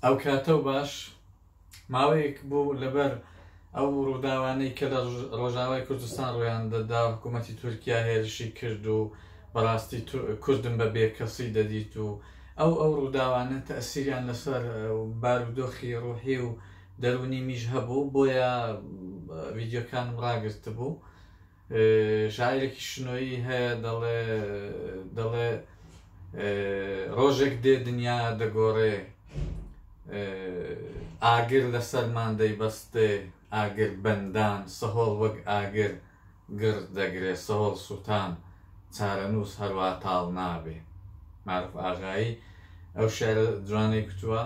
ئەوکاتە و باش ماوەیەک بوو لەبەر ئەو ڕووداوانەی کە لە ڕۆژاوای کوردستان ڕویان دەدا حکوومەتی تورکیا هێرشی کرد و بەڕاستی کوردم بە بێکەسی دەدیت و ئەو ئەو ڕووداوانە تەسیریان لەسەر بارودۆخی ڕوحی و دەرونی میش هەبوو بۆیە ڤیددیوکانم ڕاگررت بوو شاعیرێکی شنۆیی هەیە دەڵێ دەڵێ ڕۆژێک دێ دنیا دەگۆڕێ ئاگر لەسەرمان دەیبەستێ ئاگر بەندان سەهۆڵ وەک ئاگر گڕ دەگرێ سەهۆڵ سووتان چارەنووس هەروا تاڵ نابێ معروف ئاغایی ئەو شعرە جوانەی کوتووە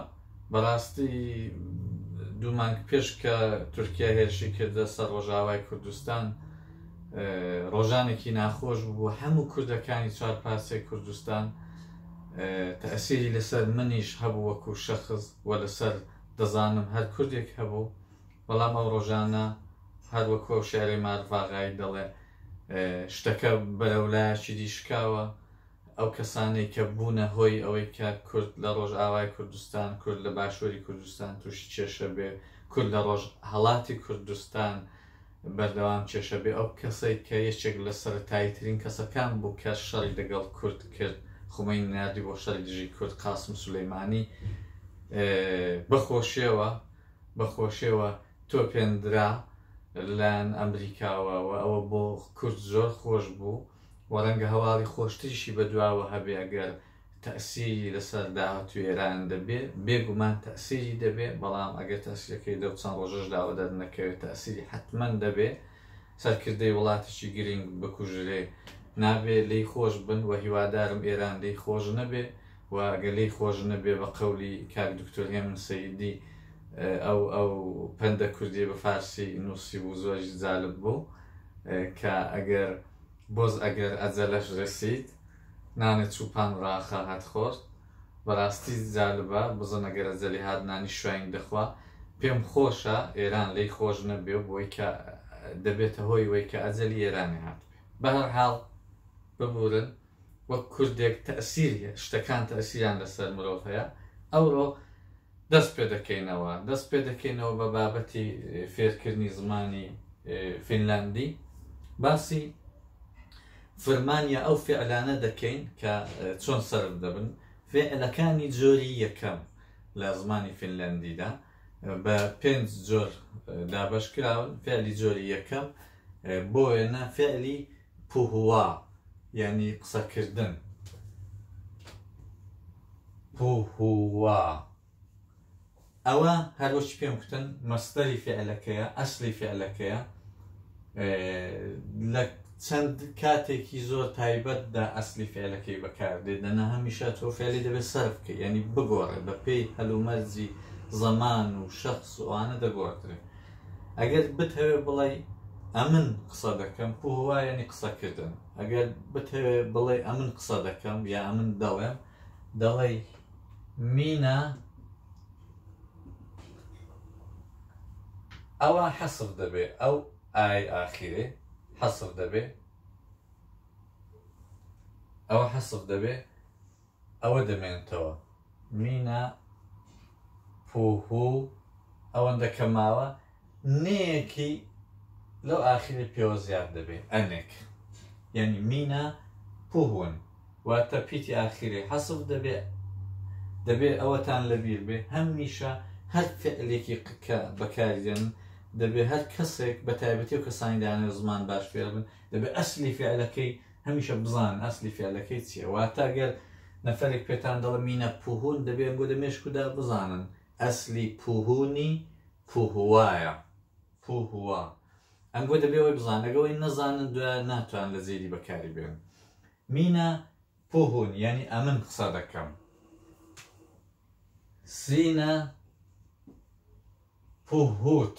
بەڕاستی دوو مانگ پێش کە تورکیا هێرشی کردە سەر ڕۆژاوای کوردستان ڕۆژانێکی ناخۆش بوو هەموو کوردەکانی چوار پارسێ کوردستان تەسیری لەسەر منیش هەبوو وەکو شەخص و لەسەر دەزانم هەر کوردێک هەبوو بەڵام ئەو ڕۆژانە هەر وەکو ئەو شعری مارڤاغایی دەڵێ شتەکە بەرەولایەکی دیشکاوە ئەو کەسانەی کە بوونە هۆی ئەوەی کە کورد لە ڕۆژئاوای کوردستان، کورد لە باشووری کوردستان تووشی کێشە بێ، کورد لە ڕۆژهەڵاتی کوردستان بەردەوام کێشە بێ، ئەو کەسەی کە یەکێک لە سەرەتاییترین کەسەکان بوو کە شەڕی لەگەڵ کورد کرد، خومەینی ناردی بۆ شەڕی دژی کورد، قاسم سولەیمانی بە خۆشێوە بە خۆشێوە تۆپێندرا لەلایەن ئەمریکاوە و ئەوە بۆ کورد زۆر خۆش بوو. و ڕەنگە هەواڵی خۆشتریشی بەدواوە هەبێ ئەگەر تەئسیری لەسەر داهاتووی ئێران دەبێ، بێ گومان تەئسیری دەبێ، بەڵام ئەگەر تەئسیرەکەی لەو چەند ڕۆژەشداوە دەرنەکەوێ تەئسیری حەتمەن دەبێ، سەرکردەی وڵاتێکی گرینگ بکوژرێ نابێ لێی خۆش بن و هیوادارم ئێران لێی خۆش نەبێ و ئەگەر لێی خۆش نەبێ بە قەولی کاک دکتۆر هێمن سەیدی ئەو ئەو پەندە کوردی بە فارسی نووسیبوو زۆریش جالب بوو. کە ئەگەر بۆز ئەگەر ئەجەلەش رەسید نانێ چووپان راخاهت خۆرد بەراستی جالبە بزن ئەگەر ئەجەلی هات نانی شوین دەخوا پێم خۆشە ئێران لێی خۆش نەبێ و بۆی کە دەبێتە هۆی وەی کە ئەجەلی ئێرانی هاتبێ بەهەرحال ببورن. وەک کوردێک تەئسیر هەیە، شتەکان تەئسیریان لەسەر مرۆڤ هەیە، ئەوڕۆ دەست پێ دەکەینەوە، دەست پێ دەکەینەوە بە بابەتی فێرکردنی زمانی فینلاندی، باسی فرمان یا ئەو فعلانە دەکەین کە چۆن سەرف دەبن، فعلەکانی جۆری یەکەم لە زمانی فینلاندیدا بە پێنج جۆر دابەش کراون، فعلی جۆری یەکەم بۆ وێنە فعلی پوهوا یانی قسەکردن. پوهوا ئەوە هەر وەکی پێم کوتن مەستەری فعلەکەیە ئەسلی فعلەکەیە لە چەند کاتێکی زۆر تایبەتدا ئەسلی فعلەکەی بەکاردێت دەنا هەمیشە تۆ فعلی دەبێت سەرف بکە یعنی بگۆڕێت بە پێی هەلومەرجی زەمان و شخص وانە دەگۆڕدرێت ئەگەر بتهەوێ بڵێی ئەمن قسە دەکەم پو هوا یەنی قسە کردن ئەگەر بتهەوێ بڵێی ئەمن قسە دەکەم یا ئەمن دەڵێم دەڵێی مینە ئەوە حەسر دەبێ ئەو ئای ئاخیرێ حەسر دەبێ ئەوە حەسر دەبێ ئەوە دەمێنتەوە. مینا پووهوو ئەوەندە کە ماوە نێیەکی لەو ئاخیرەی پێوە زیاد دەبێ ئەنێک یانی مینا پووهوون واتە پیتی ئاخیرەی حەسف دەبێ دەبێ ئەوەتان لەبیر بێ هەم میشە هەر فعلێکی کە بەکاری دێن دەبێ هەر کەسێک بە تایبەتی و کەسانی دانێ زمان باش فێربن دەبێ ئەسلی فعلەکەی هەمیشە بزانن ئەسلی فعلەکەی چیە واتە گەر نەفەرێک پێتان دەڵێ مینە پوهون دەبێ ئەم گۆدە مێشکودا بزانن ئەسلی پوهونی پوهوایە پوهوا ئەم گۆ دەبێ ئەوی بزانەگەوەی نەزانن دوای ناتوان لە جێدی بەکاری بێن مینە پوهون یعنی ئەمن قسە دەکەم سینە پوهوت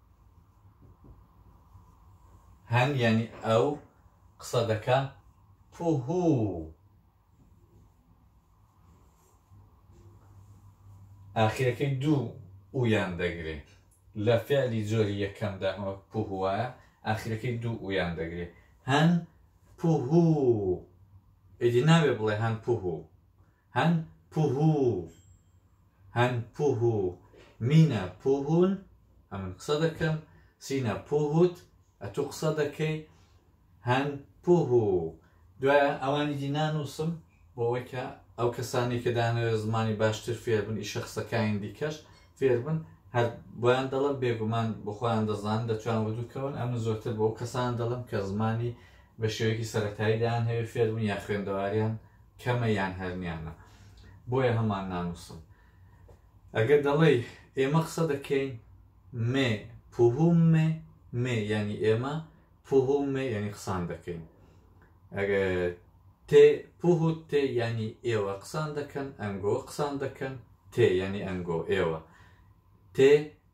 هەن یعنی ئەو قسە دەکا پوهوو ئاخیرەکەی دوو ئویان دەگرێ لە فعلی جۆری یەکەمدا ئەوە پوهوە ئاخیرەکەی دوو ئویان دەگرێ هەن پوهوو ئیدی ناوێ بڵێ هەن پوهوو هن پوهو هن پوهو مینە پوهون ئەمن قسە دەکەم سینە پوهوت ئەتو قسە دەکەی هن پوهو دوای ئەوانی دی نانووسم بۆەوەی کە ئەو کەسانی کە دانەوێت زمانی باشتر فێربن ئیشە قسەکانی دیکەش فێربن هەر بۆیان دەڵم بێگومان بخۆیان دەزان دەتوان وردوکەون ئەمن زۆرتر بۆ کەسان دەڵم کە زمانی بە شێوەیەکی سەتاییدایان هەوێ فێربوون یا خوێندەواریان کەمە یان هەرنیانە بۆیە هەمان نانووسم ئەگەر دەڵێی ئێمە قسە دەکەین مێ پوهوم مێ مێ ینی ئێمە پوهوم مێ ینی قسان دەکەین ئەگە تێ پوهوت تێ ینی ئێوە قسان دەکەن ئەنگۆ قسان دەکەن تێ ینی ئەنگۆ ئێوە تێ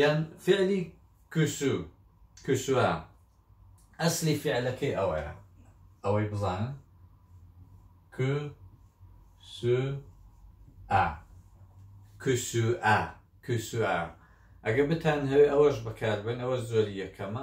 یان فعلی کوسو کوسوا ئەسلی فعلەکەی ئەوەیە ئەوەی بزانن کو سو ئا کوسو ئا کوسو ئا ئەگە بتان هەوێ ئەوەش بەکاربن ئەوە زۆری یەکەمە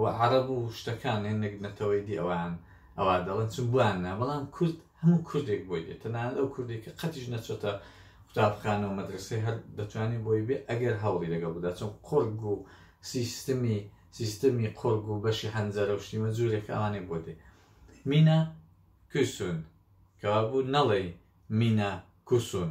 و عەرەب و شتەکان هەی نەک نەتەوەی دی ئەوان ئەوا دەڵێن چون بۆیان نا بەڵام کورد هەموو کوردێک بۆی دێت تەنانەت ئەو کوردێک کە قەتیش نەچۆتە قوتابخانە و مەدرسەی هەر دەتوانین بۆی بێ ئەگەر هەوڵی لەگەڵ بدا چون قۆرگ و سیستمی سیستمی قۆرگ و بەشی هەنجەرە و شتیمە جوورێک ئەوانەی بۆ دێ مینە کوسون کەوا بوو نەڵێی مینە کوسون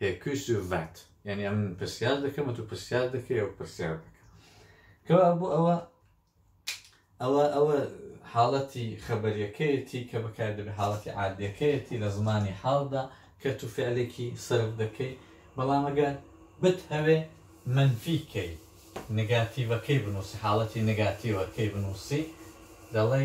هێ کوی سوور ڤات یانی ئەمن من پرسیار دەکەم تو پرسیار دەکەی ئەو پرسیار دەکە کەوا بۆ ئەوە ئەوە ئەوە حاڵەتی خەبەریەکەیەتی کە بەکار دەبێت حاڵەتی عادیەکەیەتی لە زمانی حاڵدا کە تو فعلێکی سرف دەکەی بەڵامەگەر بت هەوێ منفیکەی نگاتیڤەکەی بنووسی حاڵەتی نگاتیوەکەی بنووسی دەڵێ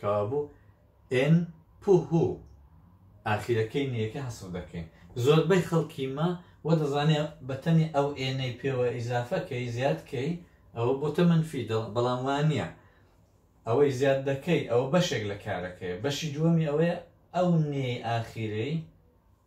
کەوابوو ئێن پوهو ئاخیرەکەی نەیەکە هەسف دەکەین زۆربەی خەڵکی ما وە دەزانێ بەتەنی ئەو ئێنەی پێوە ئیزافەکەی زیادکەی ئەوە بۆتە منفی دڵ بەڵام وانە ئەوەی زیاد دەکەی ئەوە بەشێک لە کارەکەی بەشی دووەمی ئەوەیە ئەو نێی ئاخیرەی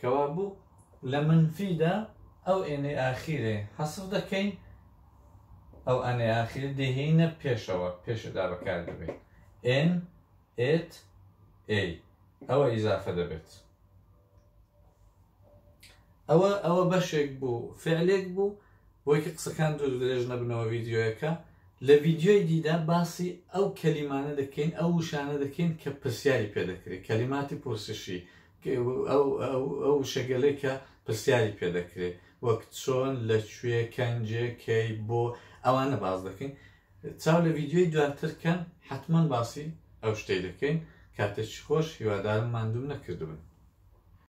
کەوابوو لە منفی دا ئەو ئێنەی ئاخیرەی حەسف دەکەین، ئەو ئانەی ئاخیرە دەیهێینە پێشەوە، پێش ئدا بەکار دەبەین، ئێن، ئێت، ئێی، ئەوە ئیزافە دەبێت. ئەوە ئەوە بەشێک بوو، فعلێک بوو، بۆی کە قسەکان دوور درێژ نەبنەوە ڤیدیۆیەکە، لە ڤیدیۆی دیدا باسی ئەو کەلیمانە دەکەین، ئەو وشانە دەکەین کە پرسیاری پێ دەکرێت، کەلیماتی پرسشی، ئەو وشەگەلەی کە پرسیاری پێ دەکرێت وەک چۆن لە کوێ کەنجێ کەی بۆ ئەوانە باز دەکەین چاو لە ویددیوی دواترکەن حتمما باسی ئەو شتەی دەکەین کاتێکی خۆش هیوادارم مادوم نەکردبن